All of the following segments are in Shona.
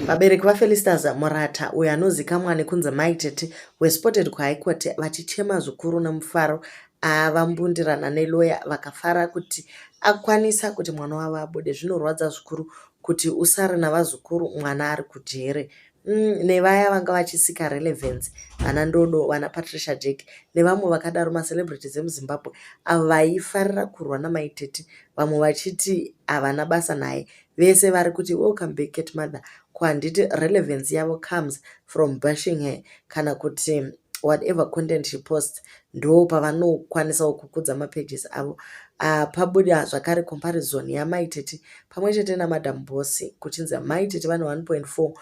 Vabereki vaFelistas Murata, uyo anozikamwa nekunzi Mai Tete, were spotted kuHigh Court vachichema zvikuru nemufaro avambundirana neloya vakafara kuti akwanisa kuti mwana wavo abude. Zvinorwadza zvikuru kuti usare navazukuru mwana ari kujere. Mm, nevaya vanga vachisika relevance vana ndodo vana patricia jack nevamwe vakadaro macelebrities emuzimbabwe avo vaifarira kurwa namaitete vamwe vachiti havana basa naye Vese vari kuti welcome back cat mother ko handiti relevance yavo comes from bashing her kana kuti whatever content she posts ndo pavanokwanisawo kukudza mapages avo uh, pabuda zvakare comparison yamai tete pamwe chete namadam boss kuchinzi mai tete vane 1.4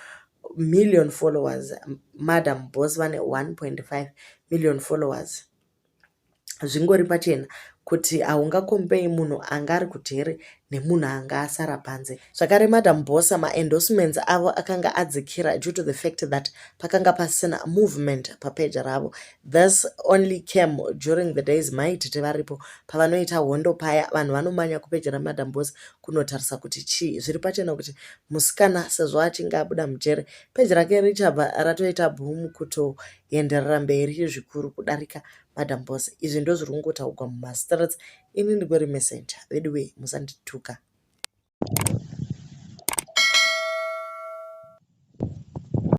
million followers madam boss vane 1.5 million followers zvingori pachena kuti haungakombei munhu anga ari kujere nemunhu anga asara panze zvakare madam bosa maendorsements avo akanga adzikira due to the fact that pakanga pasina movement papeji ravo this only came during the days maitete varipo pavanoita hondo paya vanhu vanomanya kupeji ramadam bosa kunotarisa kuti chii zviri pachena kuti musikana sezvo achinge abuda mujere peji rake richabva ratoita boom kuto yaenderera mberi zvikuru kudarika madam boss izvi ndozviri kungotaugwa mumastreets ini ndingori messenger veduwee musandituka